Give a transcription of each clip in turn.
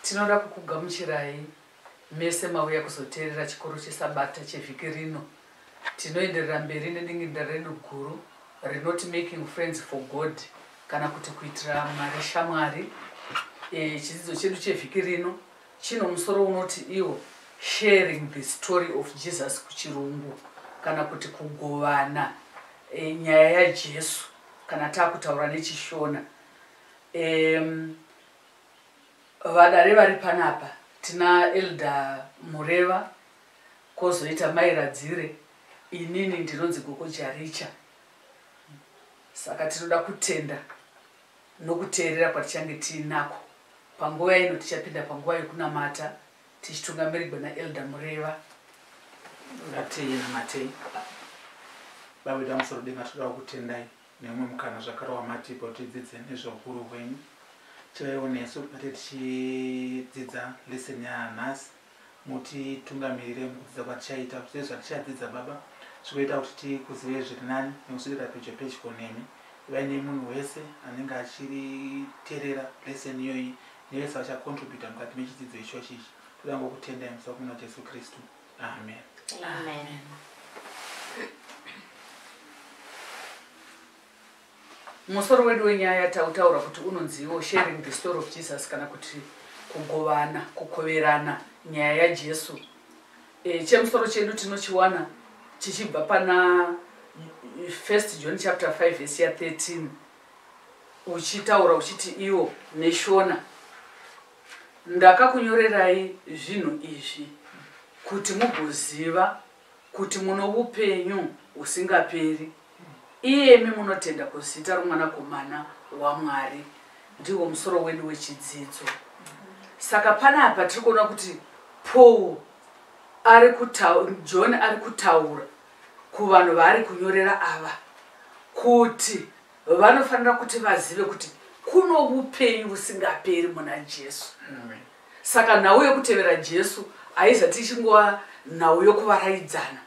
tinoda kukugamuchirai mese mauya kuzoteerera chikoro chesabata chevhiki rino tinoenderera mberi nedinginda redu guru rinoti making friends for god kana kuti kuitira mari shamwari e, chidzidzo chedu chevhiki rino Chino musoro unoti iwo sharing the story of Jesus kuchirungu kana kuti kugovana e, nyaya yaJesu kana takutaura nechishona um, vadare vari panapa tina elder mureva kozoita mai radzire inini ndinonzi gogo jaricha saka tinoda kutenda Nokuteerera kwatichange tiinako panguva ino, tichapinda panguva yokunamata tichitungamirigwa naElder Mureva. Ngatinamatei. Baba vedu vamusorudenga, tinodawo kutendai neumwe mukana zvakare wamatipa kuti tidzidze nezvehukuru hwenyu. Chivaiwo nesu patinge tichidzidza lesson yanhasi. mutitungamirire mukudzidza kwatichaita kuti tizive zvatichadzidza baba zvikoita kuti tikuzivei zviri nani nekusvikira pedyo pedyo nemi ivai nemunhu wese anenge achiriterera lesson iyoyi nevese vachacontributa mukati mechidzidzo ichochi ichi toda ngokutendai musa kumuna jesu kristu amen, amen. amen. Musoro wedu wenyaya tautaura kuti unonziwo sharing the story of Jesus kana kuti kugovana, kukoverana nyaya yaJesu. E, chemusoro chedu tinochiwana chichibva pana 1 John chapter 5 verse ya 13 uchitaura uchiti iwo neshona ndakakunyorerai zvinhu izvi kuti mugoziva kuti muno upenyu husingaperi, iyemi munotenda kuzita roMwanakomana waMwari, ndihwo musoro wedu wechidzidzo. Saka panapa tiri kuona kuti Paul ari kutaura, John ari kutaura kuvanhu vaari kunyorera ava kuti vanofanira kuti vazive kuti kuno upenyu husingaperi muna Jesu. Amen. Saka nhau yokutevera Jesu haizati ichingova nhau yokuvaraidzana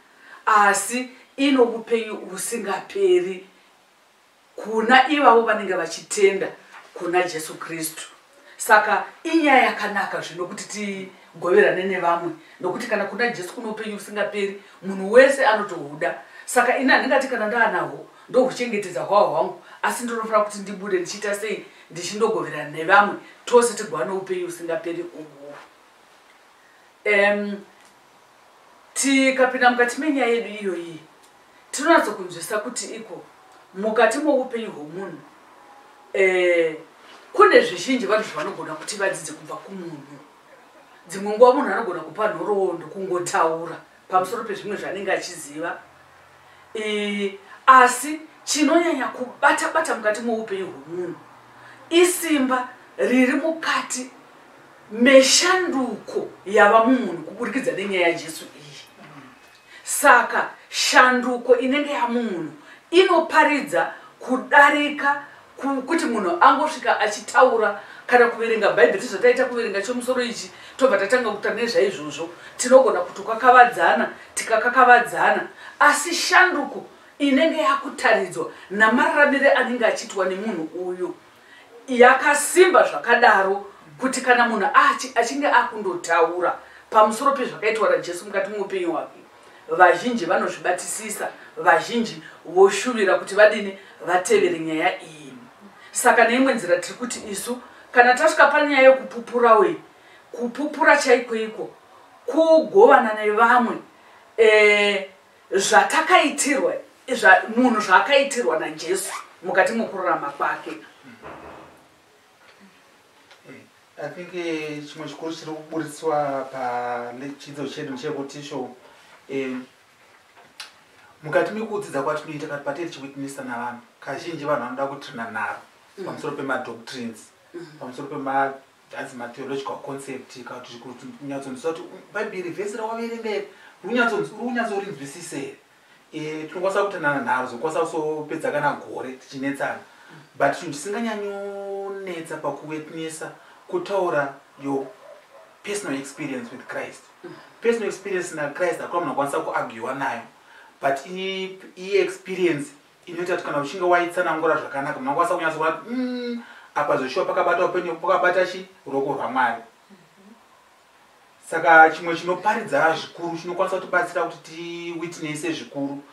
asi ino upenyu husingaperi kuna ivavo vanenge vachitenda kuna Jesu Kristu. Saka inyaya yakanaka zvino kuti tigoverane nevamwe nokuti kana kuna Jesu kuno upenyu husingaperi munhu wese anotohuda. Saka ini handingati kana ndaanahwo ndokuchengetedza hwahwa hwangu asi ndinofanira kuti ndibude ndichiita sei ndichindogoverana nevamwe tose tigova noupenyu usingaperi uhu um, tikapinda mukati menyaya yedu iyoyi tinonatso kunzwisisa kuti iko mukati moupenyu hwomunhu um kune zvizhinji vanhu zvavanogona kuti vadzidze kubva kumunhu dzimwe nguva munhu anogona kupa nhoroondo kungotaura pamusoro pezvimwe zvanenge achiziva e, asi chinonyanya kubata bata mukati moupenyu hwemunhu isimba riri mukati meshanduko yava mumunhu kuburikidza nenyaya yajesu iyi saka shanduko inenge yamunhu inoparidza kudarika kuti munhu angosvika achitaura kana kuverenga bhaibheri tizvataita kuverenga chomusoro ichi tobva tatanga kuta nezvaizvozvo tinogona kuti kwakavadzana tikakakavadzana asi shanduko inenge yakutaridzwa namararamire anenge achiitwa nemunhu uyu yakasimba zvakadaro kuti kana munhu achinge akundotaura pamusoro pezvakaitwa rajesu mukati muupenyu hwake vazhinji vanozvibatisisa vazhinji voshuvira kuti vadini vatevere nyaya iyi saka neimwe nzira tiri kuti isu kana tasvika panyaya yekupupura uyi kupupura chaikoiko kugovana nevamwe e, zvatakaitirwa munhu zvaakaitirwa najesu mukati mokururama kwake I think eh, chimwe chikuru chiri kuburitswa pachidzidzo chedu ndechekuti sho eh, mukati mekudzidza kwatinoita kati patei tichiwitnessa navanhu kazhinji vanhu vanoda kutrina nharo mm. pamusoro pemadoctrines mm. pamusoro pema as matheological concept kati unyatsonzwisisa kuti mm, bhaibheri vhesi rawaverenga iri unyatsonzwisisa here Eh, tinokwanisa kutanana nharo zokwanisa kusopedza kana gore tichinetsana but chinhu chisinganyanyonetsa pakuwetnesa kutaura yo personal experience with christ personal experience nachrist hakuna munhu akwanisa kuagiwa nayo but iye experience inoita kuti kana uchinge waitsanangura zvakanaka munhu akwanisa kunyatsoona kuti mm, apa zveshuwa pakabata upenyu pakabata chi ruoko rwamwari saka chimwe chinoparidza zvikuru chinokwanisa kutibatsira kuti tiwitnese zvikuru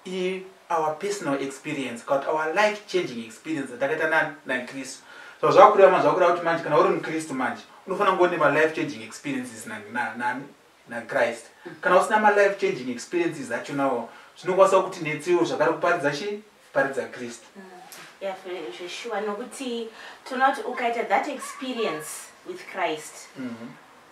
i our personal experience kana kuti our life changing experience atakaita nakristu so zvakureva manje zvakureva kuti manje kana uri mukristu manje unofanira kungo nema life changing experiences nani nakrist kana usina malife changing experiences achonawo zvinokwanisa kuti netsiwo zvakare kuparidza chii paridza kristu mm. zveshuwa nokuti tinoona kuti ukaita that experience with christ mm -hmm.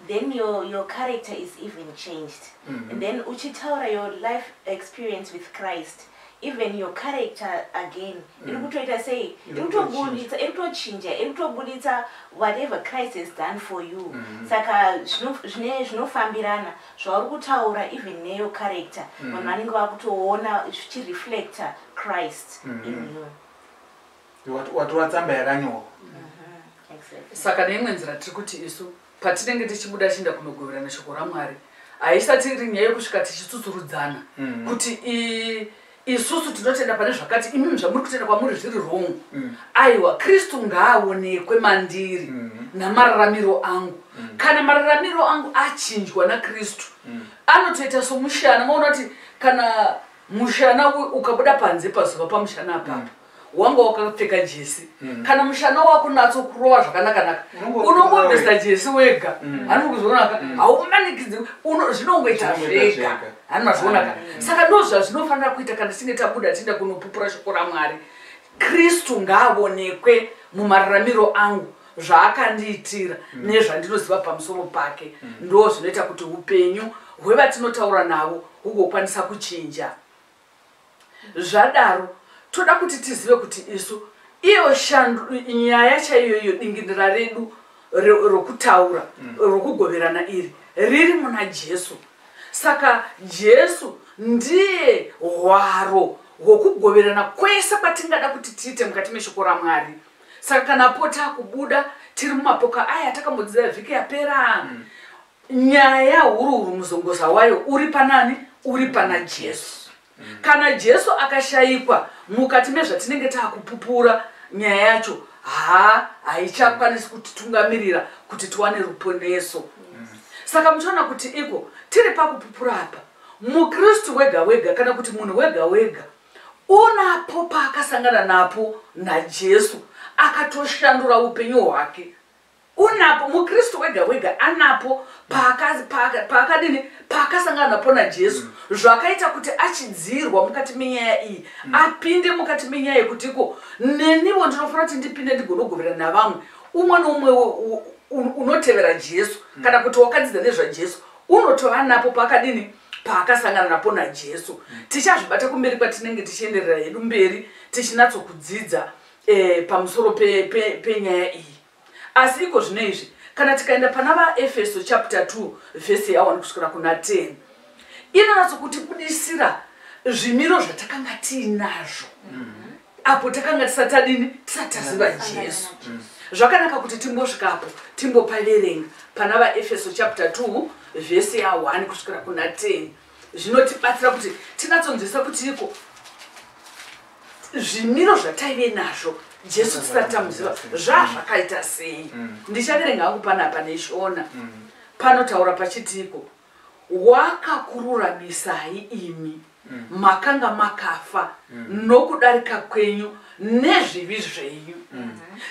then your, your character is even changed mm -hmm. and then uchitaura your life experience with christ even your character again mm. iri kutoita sei iri kutobuditsa iri kutochinja iri kutobuditsa whatever christ has done for you mm -hmm. saka zvine zvinofambirana zvauri kutaura even neyo character mm. vanhu vanenge vakutoona zvichireflecta christ mm -hmm. in mm-hmm. you watora tsamba yakanyorwa mm-hmm. saka neimwe nzira tiri kuti isu patinenge tichibuda chienda kunogoverana shoko ramwari haisati iri nyaya yekusvika tichitsutsurudzana mm-hmm. kuti isusu tinotenda pane zvakati imimi zvamuri kutenda kwamuri zviri wrong mm. aiwa kristu ngaaonekwe mandiri mm. namararamiro angu mm. kana mararamiro angu achinjwa nakristu mm. anotoita somushana maona kuti kana mushana ukabuda panze pazuva pamushana apapo mm. wanga wakapfeka jesi mm. kana mushana wako natso kurova zvakanaka-naka unongobvisa jesi wega mm. hanzi kuzvionaka mm. haumanikidzi zvinongoita zvega hani mazvionaka mm. saka ndo zvazvinofanira kuita kana tisinge tabuda tiinda kunopupura shoko ramwari kristu ngaavonekwe mumararamiro angu zvaakandiitira mm. nezvandinoziva pamusoro pake mm. ndo zvinoita kuti upenyu hwevatinotaura navo hugokwanisa kuchinja zvadaro toda kuti tizive kuti isu iyo shandu nyaya chaiyo iyo dingindira redu rokutaura mm. rokugoverana iri riri muna jesu saka jesu ndiye hwaro hwokugoverana kwese kwatingada kuti tiite mukati meshoko ramwari saka kana po takubuda tiri mumapoka aya takambodzidza vhiki yapera mm. nyaya hururu muzongoza wayo uri panani uri pana jesu kana jesu akashayikwa mukati mezvatinenge taakupupura nyaya yacho ha haichakwanisi kutitungamirira kuti tiwane ruponeso saka muchaona kuti iko tiri pakupupura apa mukristu wega wega kana kuti munhu wega wega unapo paakasangana napo najesu akatoshandura upenyu hwake Unapo muKristu wega wega anapo paakadini paaka, paaka paakasangana napo naJesu mm. zvakaita kuti achidzirwa mukati menyaya iyi mm. apinde mukati menyaya yekuti iko neniwo ndinofanira kuti ndipinde ndigonogoverana navamwe umwe noumwe unotevera Jesu mm. kana kuti wakadzidza nezvaJesu unotova napo paakadini paakasangana napo naJesu mm. tichazvibata kumberi kwatinenge tichienderera hedu mberi tichinatsokudzidza eh, pamusoro penyaya pe, pe iyi asi iko zvino izvi kana tikaenda pana vaefeso chapter 2 vhesi yawani kusvikira kuna 10 inonatso kuti budisira zvimiro zvatakanga tiinazvo mm-hmm. apo takanga tisati adini tisati taziva jesu zvakanaka kuti timbosvikapo timbopaverenga pana vaefeso chapter 2 vhesi ya1 kusvikira kuna 10 zvinotibatsira kuti tinatsonzvisa kuti iko zvimiro zvataive nazvo jesu tisati tamuziva zvaa zvakaita sei mm. ndichaverenga hangu panapa neshona mm. panotaura pachitiiko wakakururamisai imi mm. makanga makafa nokudarika kwenyu nezvivi zvenyu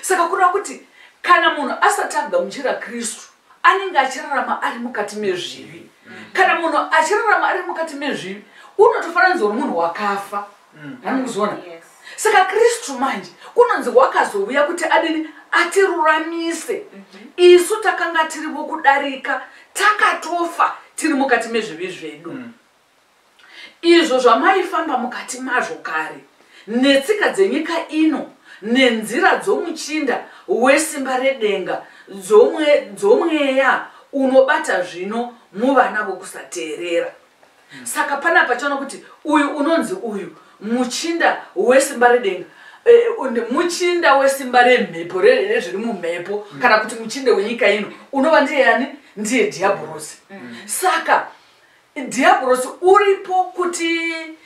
saka kureva kuti kana munhu asati agamuchira kristu anenge achirarama ari mukati mezvivi kana munhu achirarama ari mukati mezvivi unotofananidzwa nomunhu wakafa mm. anikuzoona saka kristu manje kunonzi wakazouya kuti adini atiruramise mhm. isu takanga tiri vokudarika takatofa tiri mukati mezvivi zvedu mm. izvo zvamaifamba mukati mazvo kare, netsika dzenyika ino, nenzira dzomuchinda wesimba redenga, dzomwe, dzomweya unobata zvino muvana vokusateerera. Saka pana pachona kuti uyu unonzi uyu muchinda wesimba redenga eh, muchinda wesimba remhepo rezviri mumhepo mm. kana kuti muchinda wenyika ino unova ndiye yani ndiye dhiabhorosi mm. saka Dhiabhorosi uripo kuti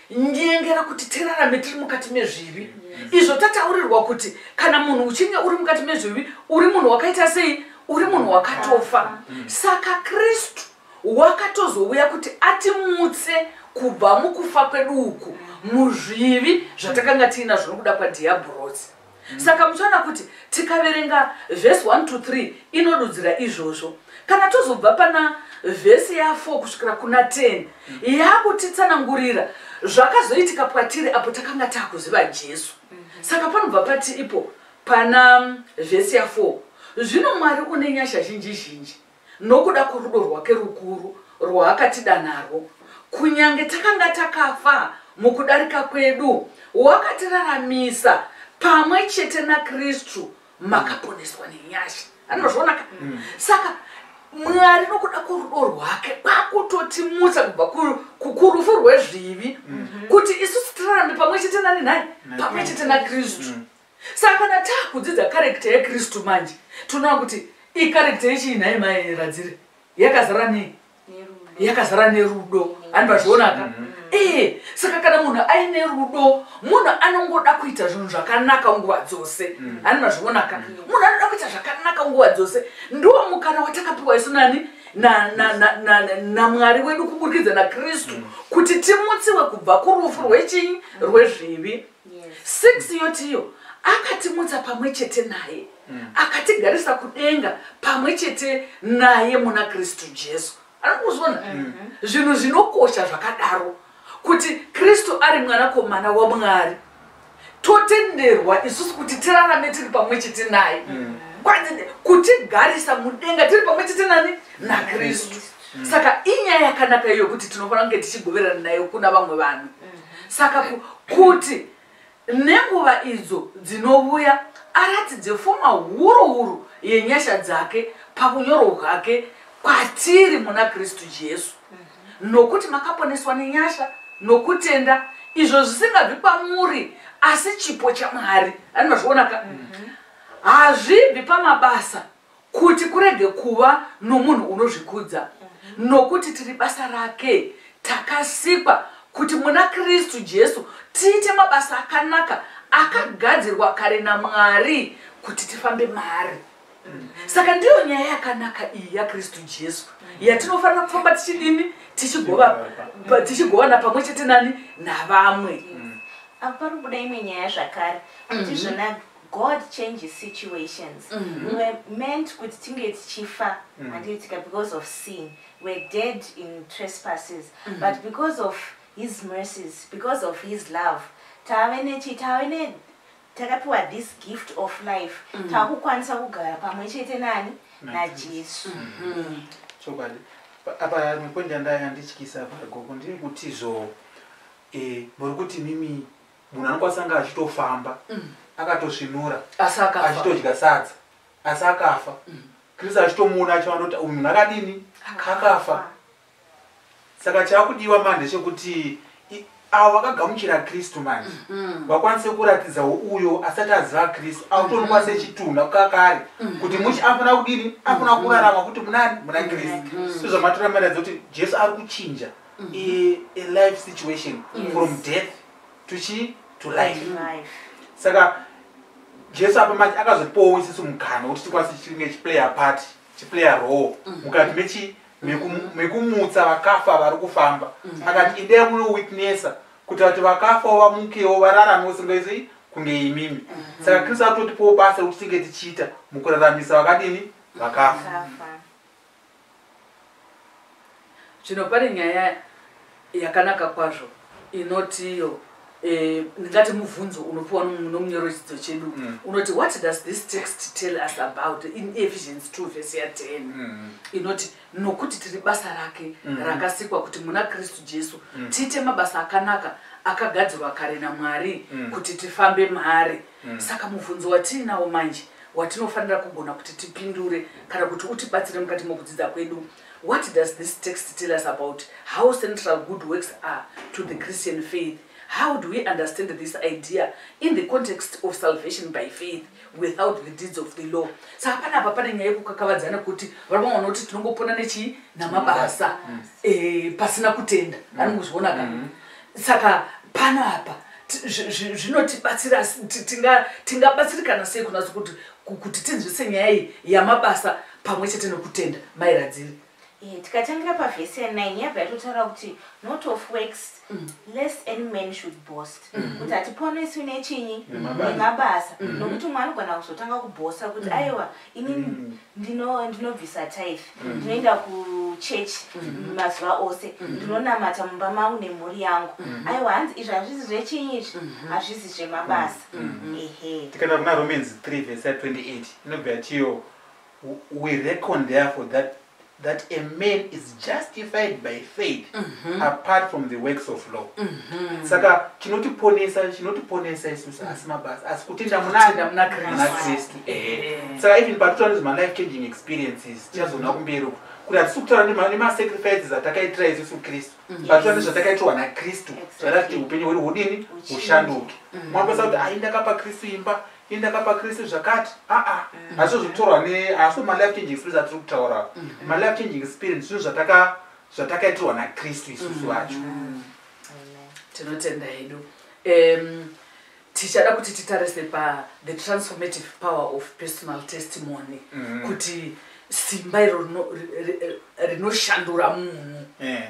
nyengera kuti tirarame tiri mukati mezvivi izvo tataurirwa kuti kana munhu uchinge uri mukati mezvivi uri munhu wakaita sei uri munhu wakatofa saka kristu wakatozouya kuti atimutse kubva mukufa kwedu uku muzvivi zvatakanga tiinazvo nokuda kwadhiabhorosi saka muchaona kuti tikaverenga vhesi 1 to 3 inodudzira izvozvo kana tozobva pana vhesi ya4 kusvikira kuna 10 yaakutitsanangurira zvakazoitika kwatiri apo takanga taakuziva jesu saka panobva pati ipo pana vhesi ya4 zvino mwari une nyasha zhinji zhinji nokuda kworudo rwake rukuru rwaakatida narwo, kunyange takanga takafa mukudarika kwedu, wakatiraramisa pamwe chete naKristu, makaponeswa nenyasha. Ani mazviona ka? Mm. Saka Mwari nokuda kworudo rwake kwakutotimutsa kubva kurufu rwezvivi mm-hmm. kuti isu tirarambe pamwe chete nani nhai? Pamwe chete naKristu. Mm. Saka kana takudzidza character yeKristu manje tinoona kuti icharacter yechii nhai mai Radzire? Yakazara nei? Yakazara nerudo. Handi vazvionaka? Mm -hmm. ee saka kana munhu aine rudo munhu anongoda kuita zvinhu zvakanaka nguva dzose mm. ani mazvionaka mm. munhu anoda kuita zvakanaka nguva dzose ndiwo mukana watakapiwa isu nani namwari wedu kuburikidza nakristu mm. kuti timutsiwe kubva kurufu rwechinyi rwezvivi six yotiyo akatimutsa pamwe chete naye mm. akatigarisa kudenga pamwe chete naye muna kristu jesu arikuzona mm -hmm. zvinhu zvinokosha zvakadaro kuti kristu ari mwanakomana wamwari totenderwa isusu kuti tirarame tiri pamwe chete naye mm. kutigarisa mudenga tiri pamwe chete nani nakristu mm. saka inyaya yakanaka iyo kuti tinofanira kunge tichigoverana nayo kuna vamwe vanhu mm. saka kuti nenguva idzo dzinovuya aratidze fuma huru huru yenyasha dzake pakunyoro hwake kwatiri muna kristu jesu mhm. nokuti makaponeswa nenyasha nokutenda izvo zvisingabvi kwamuri asi chipo chamwari ani mazvionaka mhm. hazvibvi pamabasa Kuti kurege kuva nomunhu unozvikudza, nokuti tiri basa rake, takasikwa kuti muna Kristu Jesu tiite mabasa akanaka akagadzirwa kare naMwari kuti tifambe maari. Saka ndiyo nyaya yakanaka iyi yaKristu Jesu yatinofanira kufamba tichidini tichigovana pamwe chete nani navamwe. Apa pari kubuda imwe nyaya zvakare kuti izvona god changes situations mm-hmm. we were meant kuti tinge tichifa mm. handiitika because of sin we're dead in trespasses mm-hmm. but because of his mercies because of his love tave nechi tave ne takapiwa this gift of life mm. takukwanisa kugara pamwe chete nani najesu mm-hmm. chokwadi apa mwepondi yandaya ndityisa apa gogo ndiri kuti zvo eh, muri kuti mimi munhu anokwanisa anga achitofamba mm. akatosvinura achitodya sadza asi akafa mm. kristu achitomuona achivanoti uyu munhu akadini akafa saka chakudiwa mani ndechekuti avo vakagamuchira kristu manje mm-hmm. vakwanise kuratidza uyo asati aziva kristu akutonikwa mm-hmm. sechitunha kakare mm-hmm. kuti muchi afana kudini afana kurarama kuti munani muna kristu sezvamatoramira dzoti jesu ari kuchinja mm -hmm. a, a life situation mm -hmm. from death to chi to life, mm -hmm. life. saka jesu apa manje akazopowo isisu mukana kuti tikwanise chichinge chiplayer party chiplayer role mm -hmm. mukati mechi mekumutsa vakafa vari kufamba mm. akati idai munowitnessa kuti vati vakafa vamukewo vararame usingaizoi kunge imimi mm-hmm. saka kristu atotipowo basa rekuti tinge tichiita mukuraramisa vakadini vakafa zvino pane nyaya yakanaka kwazvo inoti iyo eh, ndingati mubvunzo unopiwa nomunyoro chidzidzo chedu mm. unoti what does this text tell us about in ephesians 2 vese ya 10 mm. inoti nokuti tiri basa rake mm. rakasikwa kuti muna kristu jesu tiite mabasa akanaka akagadzirwa kare namwari kuti tifambe maari mm. saka mubvunzo watiinawo manje watinofanira kugona kuti tipindure kana kuti utibatsire mukati mokudzidza kwedu what does this text tell us about how central good works are to the christian faith how do we understand this idea in the context of salvation by faith without the deeds of the law sa hapana apa pane nyaya yekukakavadzana kuti varoma vana kuti tinongopona nechii namabasa mm. eh, pasina kutenda mm. anongozviona ka mm. saka pano apa zvinotibatsira tingabatsirikana sei kunatso kuti kuti tinzwise nyaya iyi yamabasa pamwe chete nokutenda mairadziri eh, tikatangira pavhesi ya9 yabva yatotaura kuti not of works mm. less any man should boast mm. kuti hatiponeswi nechinyi nemabasa mm. nokuti mwe anogona kuzotanga kubosta kuti aiwa ini mm. ndino ndinobvisa tithe mm. ndinoenda kuchurch mm. mazuva ose ndinonamata mumba mangu nemhuri yangu aiwa hanzi izvi hazvizi zvechinyi izvi mm-hmm. hazvizi zvemabasa mm-hmm. ehe tikaenda kuna romans 3 vese 28 inobva yatiyo we reckon therefore that that a man is justified by faith mm -hmm. apart from the works of law mm -hmm. saka chinotiponesa chinotiponesa isusu asi mabasa asi kutenda munanda muna kristu ehe saka even patotaura nezvema life changing experiences tichazoona mhm. kumberi uku kuti hatisi kutaura nemasacrifices atakaitira isusu kristu mhm. patotaura nezvatakaitirwa nakristu zvatakuti upenyu hwedu hudini hushanduke mhm. mwakwanisa kuti ayi ndakapa kristu imba indaka pakristu zvakati aa hazvo zvikutorwa ne hazvo malife changing experience atiri kutaura malife changing experience zvinhu zvataka zvatakaitirwa nakristu isusu vacho tinotenda hedu um, tichada kuti titarise pa the transformative power of personal testimony Mhm. kuti simba iro rino- ri- ri- rinoshandura munhu Eh,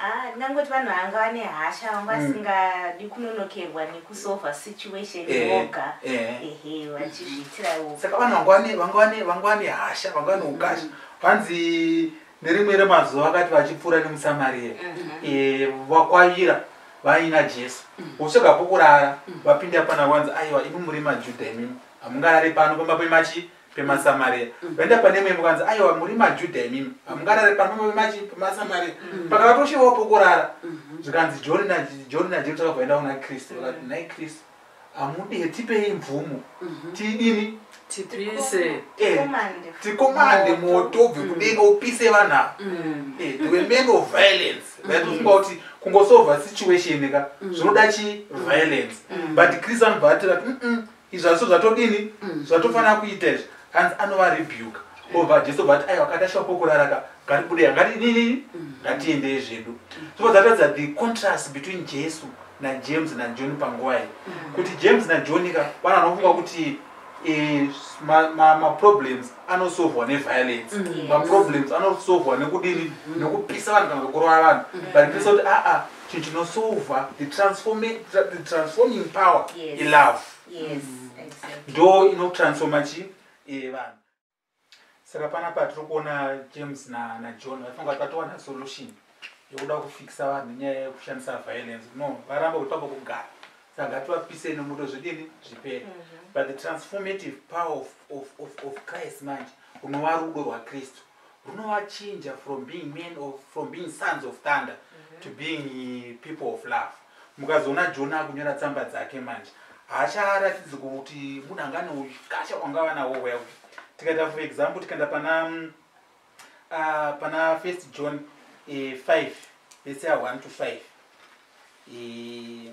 Ah, ndingangoti vanhu vanga vane hasha vanga mm. vasingadi kunonokerwa nekusova situation eh, voga eh. ehe vachizviitira voga saka vanhu vanga vane hasha vanga vane ukasha mm. vanzi nerimwe remazuva vakati vachipfuura nemusamaria mm-hmm. eh, vakwavira vaina jesu votsvaga mm. pokurara vapinda pana vanzi aiwa imi muri majudha imimi hamungarari pano pamba pemachi pemasamaria mm. vaenda pane imwe imba kanzi aiwa muri majudha imimi hamungarare pano pemasamaria mm. pakavatoshevawo pokurara mm-hmm. zvikanzi john najohn najesu takavaenda kuna kristu vakati mm. nhai kristu hamude hetipei mvumo mm-hmm. tidini tipise eh, tikomande moto obve kudenga upise vanhu ava eh, the men of violence vaitofunga kuti kungosova situation ka zvinoda chi violence but kristu anobva ati vati izvaso zvatodini mm. zvatofanira kuita izvi anzi anova rebuke obva jesu but aiwa kata shoko kuraraka ngaribude yangati nini mm. ngatiendei zvedu so zvatadza the contrast between jesu najames najohn panguva iyi mm. kuti james najohn ka vanhu vanofunga kuti eh, maproblems anosovhwa neviolence mm. maproblems anosovhwa nekudini nekupisa vanhu kana kukurova vanhu but ndisa kuti aa chinhu chinosova the transforming power yes. ilove yes, mm. exactly. ndo inotransforma chi eh, vanhu saka pana patiri kuona james na, na john vaifunga kuti vatowana solution yekuda kufikisa vanhu nyaya yekushandisa violence no varamba kuti pamba kugara saka ngativapisei nomuto zvidini zvipere mm -hmm. but the transformative power of, of, of, of christ manje unova rudo rwakristu runovachinja from being men of, from being sons of thunder mm -hmm. to being eh, people of love mukazoona jona akunyora tsamba dzake manje haacharatidzi kuti munhu anga ane ukasha kwangava nawo well tikaita for example tikaenda pana mm, ah, pana first john eh, five let's say one to five eh,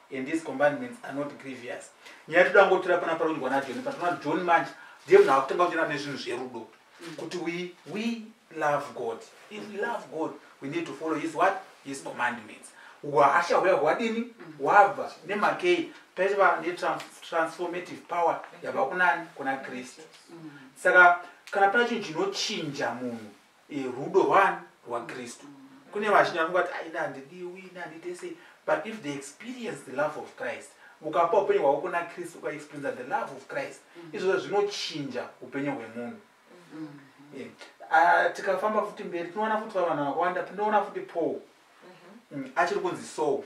and these commandments are not grievous nyaya toda ngotora pana parondwa najoni patona joni manje ndiye munhu akutanga kunyora nezvinhu zverudo mm. kuti we, we love god if we love god we need to follow his what his commandments hwahasha huya hwadini mm. hwabva nemakei paiva netransformative power yabva kunani kuna kristu mm. saka kana pane chinhu chinochinja munhu e, rudo rwani rwakristu kune vazhinji vanonga kuti aina handidiwi ina handiite sei but if they experience the love of christ ukapa upenyu hwako kuna kristu ukaexperiensa the love of christ mm-hmm. izvozvo zvinochinja upenyu hwemunhu mm-hmm. eh, ah, tikafamba futi mberi tinoona futi vavana vakawanda tinoona futi paul mm-hmm. mm, achiri kunzi soul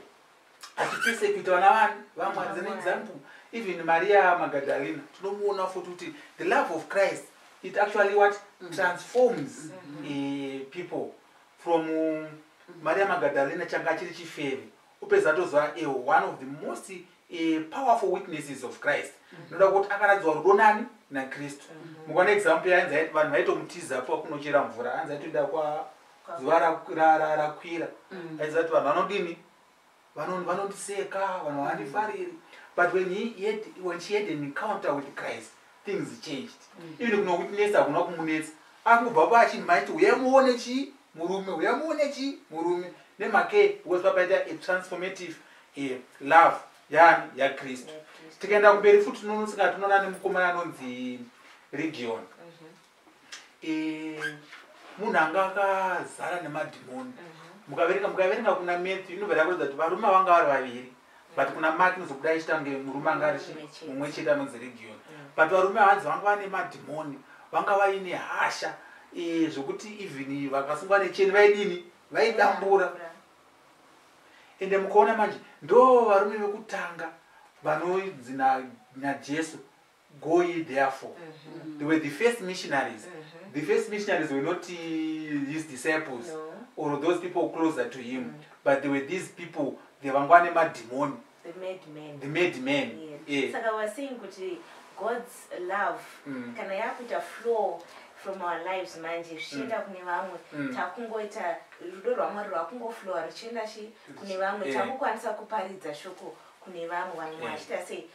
atipersecute vana vani vamwe as an example even maria magadalena tinomuona futi kuti the love of christ it actually what mm. transforms mm-hmm. eh, people from mm. maria magadalena changa chiri chifeve upedza tozova eh, one of the most eh, powerful witnesses of christ mm-hmm. noda kuti akaradzwa rudo nani nakristu mm-hmm. mukaona example yainzi vanhu vaitomutiza pa kunochera mvura anzi aitoenda kwa zuva rakwira mm. aiziva kuti vanhu vanodini vanondiseka vanhu vandifariri but when, had, when she had an encounter with christ things changed mm. even kuno kutinetsa hakuna kumunetsa akubva paachinmaiti uyamuone chii murume uyamuone chii murume nemake because papaita a transformative eh, love yani yakristu tikaenda kumberi futi nonosika tinoona nemukomana anonzi region eh, munhu anga akazara nemadhimoni mhm. mukaverenga mukaverenga kuna matthew inobva yakuratidza kuti varume vanga vari vaviri but kuna mark inozobuda ichitange murume anga ari mumwe chete anonzi region mm. but varume hanzi vanga vane madhimoni vanga vaine hasha eh, zvekuti even vakasungwa necheni vaidini vaidambura ende mukaona manje ndo varume vekutanga vanoidzi najesu go ye therefore mm-hmm. they were the first missionaries mm-hmm. the first missionaries were not uh, his disciples no. or those people closer to him mm-hmm. but they were these people they vangwa nemadhimoni the made men the made men yes. yeah. saka we're saying kuti god's love mm. kana yakuita flow from our lives manje zvichienda mm. kune vamwe mm. takungoita rudo rwamwari rwakungoflowa ruchienda chi kune vamwe takukwanisa kuparidza shoko kune vamwe vanhu vachita sei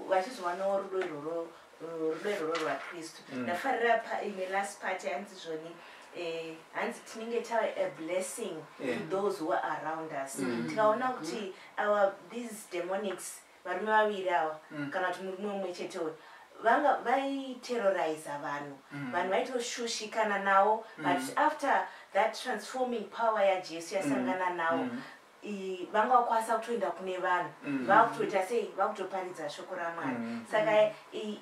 vachizowanawo rudo iroro rudo iroro rwakristu mm. ndafarira paine last part yanzi zvoni eh, hanzi tinenge tava a blessing to those who are around us mm. tikaona kuti our these demonics varume vaviri awa mm. kana kuti murume umwe chete uyo vanga vaiterroriza vanhu mm. vanhu vaitoshushikana nawo mm. but after that transforming power yajesu yasangana mm. nawo vanga vakwanisa kutoenda kune vanhu mm. vakutoita sei vakutoparidza shoko ramwari mm. saka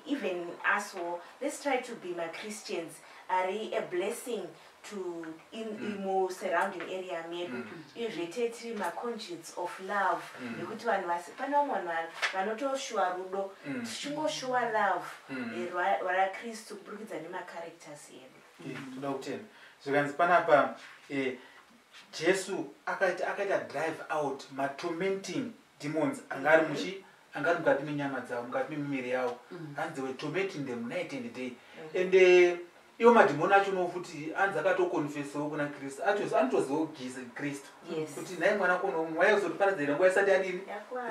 even us all let's try to be machristians ari a blessing to in, mm. in mu surrounding area medu mm. izve tee tiri maconscience of love mm. nekuti vanhu vasi pane vamwe vanhu vanotoshuwa rudo mm. tichingoshuwa love mm. Eh, rwakristu kuburikidza nemacharacters edu toda kutenda zvikanzi panapa eh, Jesu akaita akaita drive out ma tormenting demons anga ari muchi anga ari mukati menyama dzavo mukati memiviri yavo mm. hanzi were tormenting them night and day mm. and uh, iwo madhimoni acho no futi anzi akatokonfesawo kuna kristu atos anotozivawo giza kristu kuti nhai mwana kono mwaya uzotiparadza here nguva isati yadini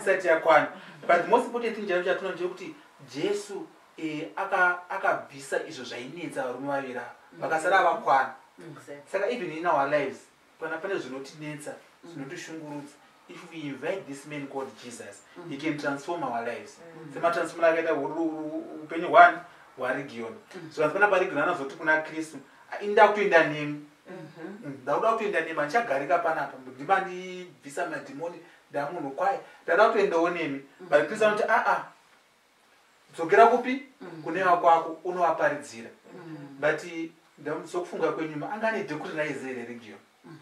isati yakwana but most important thing chaivo chatinoa chekuti jesu Eh, aka akabvisa izvo zvainetsa varume vaviri ava mm. vakasara vakwana mm. saka even in our lives kana pane zvinotinetsa mm. zvinotishungurudza if we invite this man called jesus he can transform our lives sematransform akaita upenyu hwani hwaregion so asi pana paregion anazoti kuna kristu ah, inda kutoenda nemi mm-hmm. ndakuda kutoenda nemi andichagarika panapa ndimandibvisa madhimoni ndamunhu kwaye ndada kutoendawo nemi but kristu anoti aa ah, ah, dzokera kupi mm. kune vakwako unovaparidzira mm. but sokufunga kwenyuma anga ane dhekuri raiziva here region mm.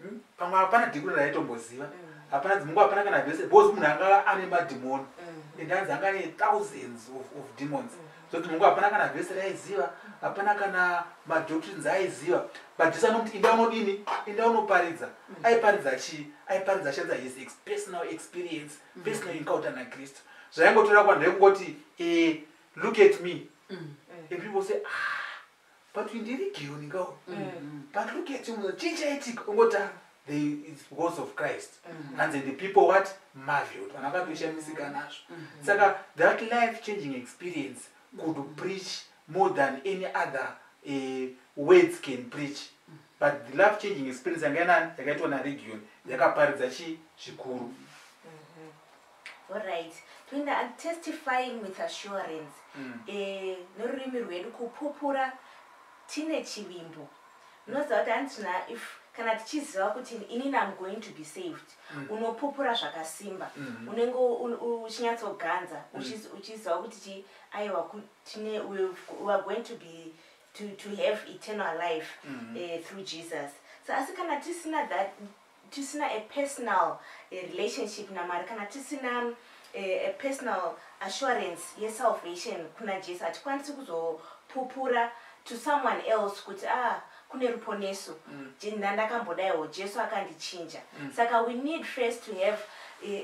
hmm? pamwe hapana dhekuri raitomboziva hapana dzimungu hapana kana vese because munhu anga ane madhimoni and anzi anga ane thousands of demons so dzimungu hapana kana vese raiziva hapana kana madoctrines aiziva but jesu anomuti inda unodini inda unoparidza aiparidza chii aiparidza achanza his personal experience pesina encounter nakristu zvaingotora kwanhu rekungoti eh, look at me mm. and people say ah but ndiri geo ndingawo mm. but look at you chii chaitika ungoti ah, it's because of christ mm. and then the people what marveled vana vakatoshamisika nazvo saka that life changing experience could preach more than any other uh, words can preach but the love changing experience yanga yanani yakaitwa naregion yakaparidza chii zvikuru mm -hmm. Alright. Twinda, I'm testifying with assurance. Mm. Eh, norurimi rwedu kupupura tine chivimbo. Unoziva kuti handina if kana tichiziva kuti inini am going to be saved mm. unopupura zvakasimba mm. unenge uchinyatsoganza mm. uchiziva kuti chi aiwa tine we are going to be to, to have eternal life mm -hmm. uh, through jesus so asi kana tisina that tisina a personal uh, relationship namwari kana tisina uh, a personal assurance yesalvation kuna jesu hatikwanisi kuzopupura to someone else kuti ah kune ruponeso mm. ndandakambodaiwo jesu akandichinja mm. saka we need first to have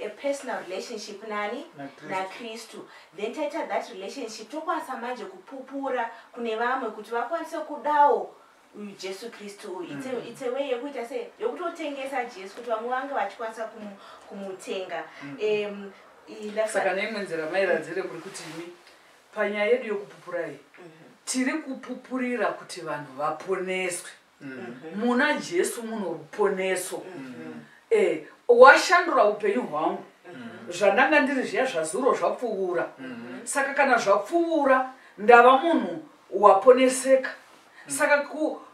a personal relationship nani nakristu then taita that relationship tokwanisa manje kupupura kune vamwe kuti vakwanise kudawo uyu jesu kristu uyu mm. it's a way yekuita se yokutotengesa jesu kuti vamwe vange vachikwanisa kumutenga mm. um, saka neimwe nzira mairadzire kuri kuti imi panyaya yedu yokupupura iyi tiri kupupurira kuti vanhu vaponeswe mm-hmm. muna jesu muno ruponeso mm-hmm. eh, washandura upenyu hwangu mm-hmm. zvandanga ndiri zviya zvazuro zvapfuvura saka kana zvapfuvura ndava munhu waponeseka saka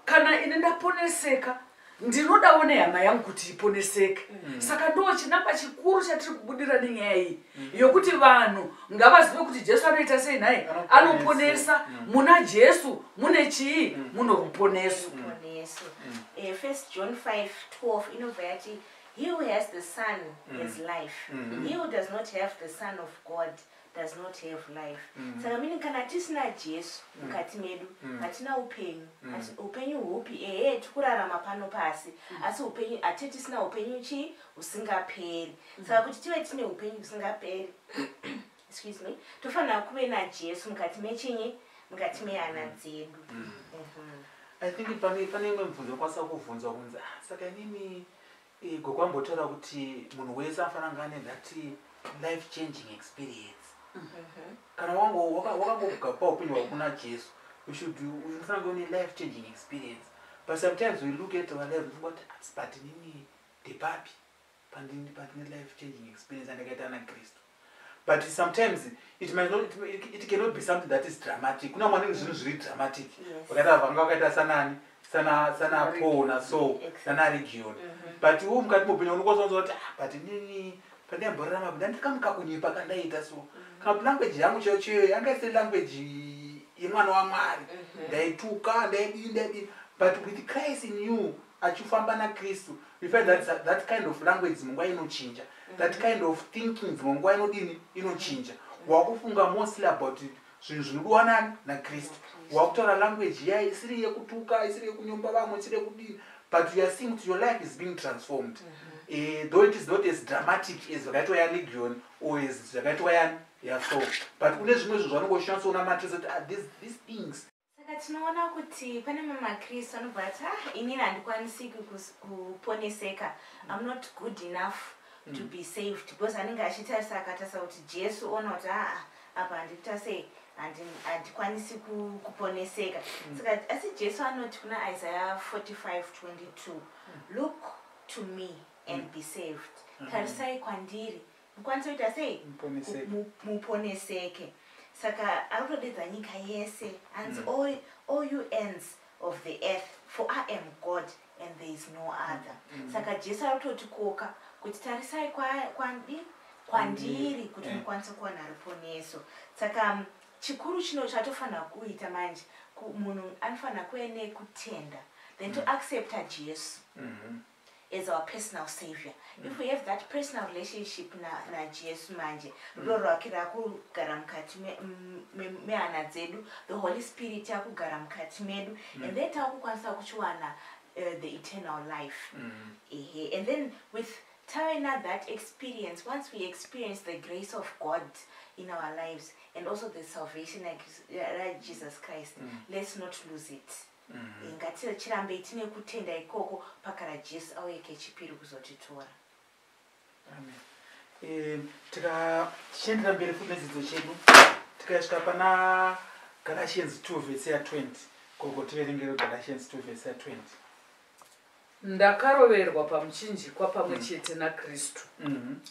kana ini ndaponeseka ndinodawo nehama yangu kuti iponeseke mm. saka ndo chinangwa chikuru chatiri kubudira nenyaya iyi mm. yokuti vanhu ngavazive kuti jesu anoita sei nhai anoponesa mm. muna jesu mune chii mm. muno ruponeso mm. mm. eh, first john 5 12 inobva yati he who has the son mm. has life mm. he who does not have the son of god does not have life mm. saka mini kana tisina jesu mm. mukati medu mm. hatina upenyu mm. upenyu hupi ehe tikurarama pano pasi mm. asi upenyu ati tisina upenyu chii husingaperi mm. saka kuti tive tine upenyu husingaperi excuse me tofanira kuve najesu mukati mechinyi mukati mehana mm. dzedu mm. mm -hmm. i think pane imwe mubvunzo kwasa kuvhunzwa kunzi ah, saka inini Eh, gogo ambotaura kuti munhu wese anofana kunge ane that life changing experience kana wange waka- wakangogakupa upenyu hwako kuna jesu you should unofana kunge une life changing experience but sometimes we look at our life ndofunga kuti asi but nini ndepapi pandini pandine life changing experience andakaita ana kristu but sometimes it might not, it, it cannot be something that is dramatic kuna mwanenge zvinhu zviri dramatic vakaita vanga vakaita sanani sana sana paul na so sana region mhm. but wo mukati mopenya unokwanisa kuziva kuti ah, but nini pandiyamborarama ndandikamukakunyepa kandaita so mhm. kana kuti language yangu chaiyo chaiyo yanga isiri language yemwana wamwari mhm. ndaituka ndaidii ndaidii but with christ in you achifamba nakristu before that, that, that kind of language dzimwe nguva inochinja mm-hmm. that kind of thinking dzimwe nguva inodini inochinja wakufunga mostly about zvinhu zvinodiwa nani nakristu wakutaura language iya isiri yekutuka isiri yekunyomba vamwe isiri yekudini but youare seeing kuti your life is being transformed mm-hmm. eh, though it is not as dramatic as zvakaitwa yalegion or as zvakaitwa yani yaso but kune zvimwe zvinhu zvanongoshinatsoona matrese kuti ah, these things Saka tinoona kuti pane mamwe maKristu anobva ati ah inini handikwanisi kuponeseka I'm not good enough mm. to be saved because anenge achitarisa akatarisa kuti Jesu ona kuti aa ah, ah, apa handikuita sei handikwanisi kuponeseka mm. saka asi Jesu anoti kuna Isaiah 45 22 mm. look to me and mm. be saved mm. tarisai kwandiri mukwanise kuita sei muponeseke saka ari kutodedza nyika yese anzi mm. all, all you ends of the earth for i am god and there is no other mm. mm. saka jesu ari kutotikoka kuti tarisai kwandi kwandiri kuti eh. mukwanise kuwana ruponeso saka mm, chikuru chino chatofanira kuita manje munhu anofanira kuve nekutenda then to mm. accepta jesu mm -hmm. as our personal savior mm. if we have that personal relationship najesu na manje rudo mm. rwake rakugara mukati mehana dzedu the holy spirit akugara mukati medu mm. and then takukwanisa kuchiwana uh, the eternal life mm. uh -huh. and then with tawena that experience once we experience the grace of god in our lives and also the salvation like uh, jesus christ mm. let's not lose it mm. ngatirambei tine kutenda ikoko pakara jesu auye kechipiri kuzotitora amen e, tichiendera mberi futi nedzidzo chedu tikasvika pana galatians 2 vese ya 20 koko tiverengero galatians 2 vese ya 20 ndakaroverwa pamuchinjikwa pamwe mm. chete nakristu mm -hmm.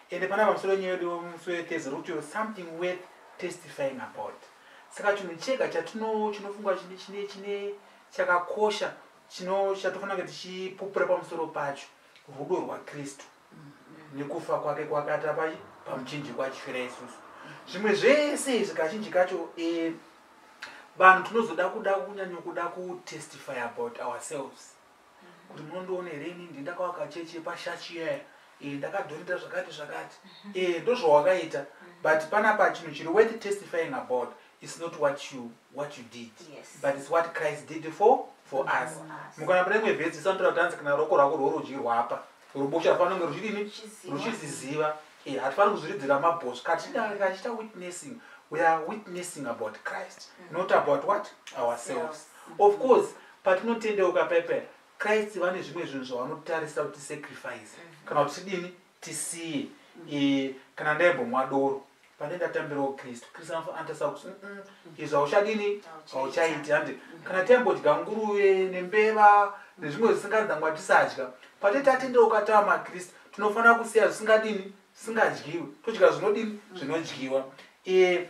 ende pana pamusoro nyaya yedu musi wethes root your something worth testifying about saka chinhu chega chatino chinofungwa chine chine chine chakakosha chino chatofanira kuti tichipupura pamusoro pacho rudo rwakristu nekufa kwake kwakata pai pamuchinjiko achifira isusu zvimwe zvese izvi kazhinji kacho e, vanhu tinozoda kuda kunyanyokuda kutestify about ourselves kuti munondiona here ini ndi ndakawaka chechi yepashachi iyaya e ndakadhonita zvakati zvakati mhm. e ndozvawakaita mhm. but panapa chinhu chiri worth testifying about is not what you what you did yes. but its what christ did for for mm -hmm. us mukana pane imwe vhesi isanotira kuti anzi kana roko rako rworudyi rwapa rubosha rufanonge ruchidini ruchiziziva e hatifaniri kuzviridzira mabhosvi katidange kachita witnessing we are witnessing about christ mm -hmm. not about what ourselves mm -hmm. of course Patinotendeuka pepera, Christ vane zvimwe zvinhu zvavanotarisa kuti sacrifice mhm. kana kuti dini tisiye e, kana ndaimbomwa doro pane ndatambirawo kristu kristu anotarisa kuti izvo hauchadini hauchaiti handi mhm. kana taimbodya nguruve nembeva nezvimwe zvisinganzi ndangwa tisadya pate tatendeuka tava makristu tinofanira kusiya zvisingadini singadyiwe todya zvinodini mm. zvinodyiwa e,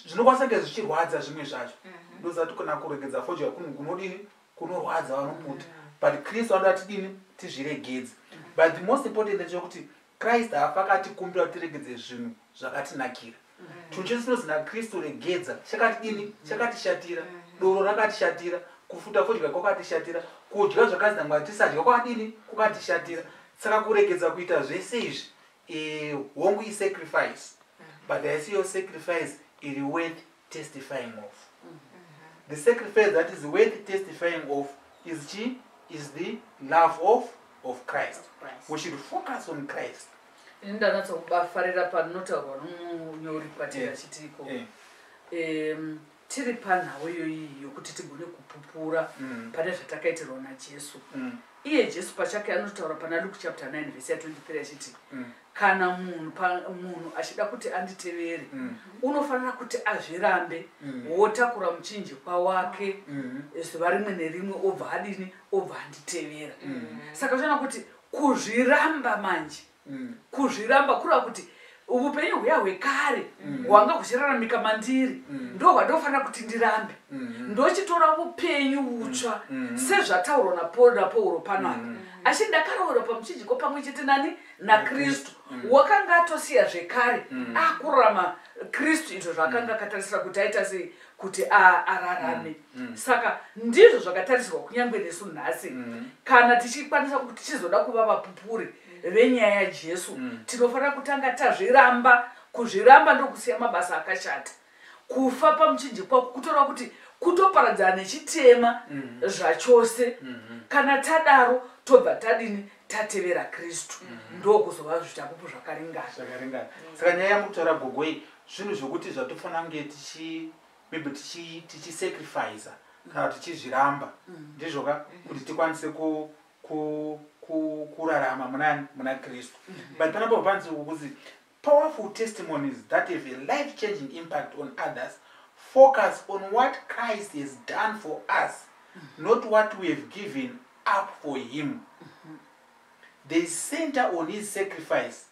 zvinokwanisa kunge zvichirwadza zvimwe zvacho mhm. ndozati kana kuregedza fodya kunodini kunorwadza vanomuti mm. but kristu anoda tidini tizviregedze mm. but the most important ndechekuti kristu haafa akatikumbira kuti tiregedze zvinhu zvakatinakira chinhu chese chinonzi nakristu regedza chakatidini chakatishatira doro rakatishatira kufuta fodya kwakatishatira kudya zvakanzi namwari tisadya kwakadini kwakatishatira saka kuregedza kuita zvese izvi eh, hongu isacrifice but haisi yo sacrifice iri worth testifying of the sacrifice that is worth testifying of is chi is the love of of christ we should focus on christ ini ndanatsa kubafarira panotaurwa nomunyori kwatiri eh, achitiko eh. um, tiri panhau iyoyi yokuti tigone kupupura mm. pane zvatakaitirwa najesu mm. iye jesu pachake anotaura pana luke chapter 9 vese ya 23 achiti mm. kana munhu munhu achida kuti anditevere mm. unofanira kuti azvirambe mm. wotakura muchinji kwawake mm. zuva rimwe nerimwe obva adini obva anditevera mm. saka zvaona kuti kuzviramba manje mm. kuzviramba kureva kuti upenyu huya hwekare mm. hwanga huchiraramika mandiri mm. ndo hwandofanira kuti ndirambe mm. ndochitora upenyu utsva sezvataurwa napauro pano apa asi ndakaroora pamuchinjiko pamwe chete nani nakristu wakanga atosiya zvekare akurarama kristu izvo zvaakanga akatarisira kuti aita sei kuti ararame mm, mm. saka ndizvo zvakatarisirwa kunyange nesu nhasi mm. kana tichikwanisa kuti tichizoda kuva vapupuri venyaya yajesu tinofanira kutanga tazviramba kuzviramba ndokusiya mabasa akashata kufa pamuchinjikwa kutora kuti kutoparadzana nechitema mhm. zvachose mhm. kana tadaro tobva tadini tatevera kristu mhm. ndokuzova zvitapupu zvakaringana saka nyaya yamutaura gogoi zvinhu zvokuti zvatofanira kunge tichi maybe tichi tichisacrificer kana kuti tichizviramba Mm. ndizvo ka kuti tikwanise ku ku ku kurarama muna muna kristu but panapa panzi kuti powerful testimonies that have a life changing impact on others focus on what christ has done for us not what we have given up for him they center on his sacrifice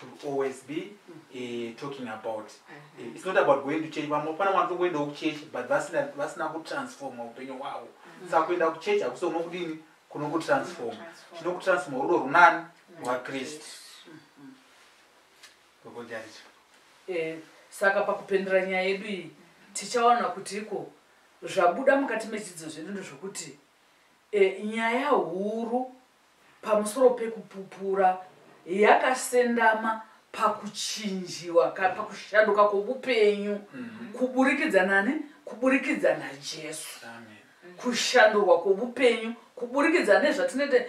to always be uh, talking about uh-huh. eh, it's not about going to church vamwe pana vanhu tokuendawo kuchechi but vasina vasina kutransforma upenyu hwavo uh-huh. saka kuenda kuchechi hakusi uno kudini kuno kutransforma chino kutransforma rudo runani rwakristu gogojarito eh, saka pakupendera nyaya yedu iyi tichaona kuti iko zvabuda mukati mechidzidzo zvedu ndezvokuti e, nyaya huru pamusoro pekupupura yakasendama pakuchinjiwa pakushanduka kwobupenyu mhm. kuburikidza nani kuburikidza najesu kushandurwa kwobupenyu kuburikidza nezvatinete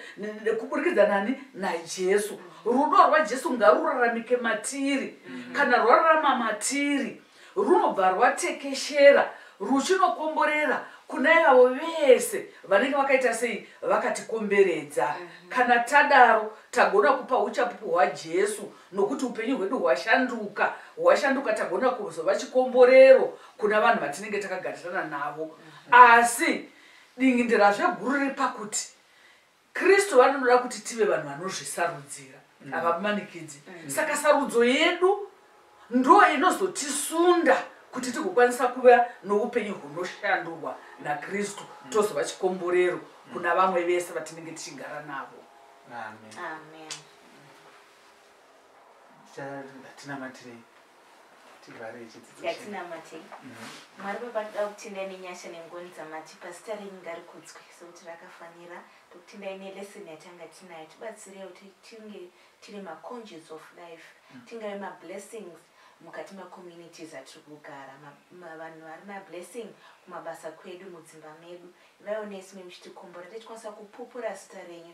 kuburikidza nani najesu rudo rwajesu ngaruraramike matiri mhm. kana rwararama matiri runobva rwatekeshera ruchinokomborera kuna ivavo vese vanenge vakaita sei vakatikomberedza kana tadaro tagona kupa uchapupu hwajesu nokuti upenyu hwedu hwashanduka hwashanduka tagona kuzova chikomborero kuna vanhu vatinenge takagarirana navo asi dingindirazve guru riri pakuti Kristu vanoda kuti tive vanhu vanozvisarudzira, mm. havamanikidzi. Mm. Saka sarudzo yedu ndo inozotisunda kuti tigokwanisa kuva noupenyu hunoshandurwa nakristu mm. tozova chikomborero mm. kuna vamwe vese vatinenge tichigara navo amen, amen. Amen. tivhare chidzidzo yatinamate mhm. mwari baba toda kutendai nenyasha nengoni dzamatipa zita renyu ngarikudzwe sekuti rakafanira tokutendai nelesson yatanga tinayo tibatsirewo tinge tiri maconges of life mhm. tingave mablessings mukati macommunities atiri kugara vanhu vari mablessing kumabasa kwedu mudzimba medu ivaiwo nesu memuchitikomborera tichikwanisa kupupura zita renyu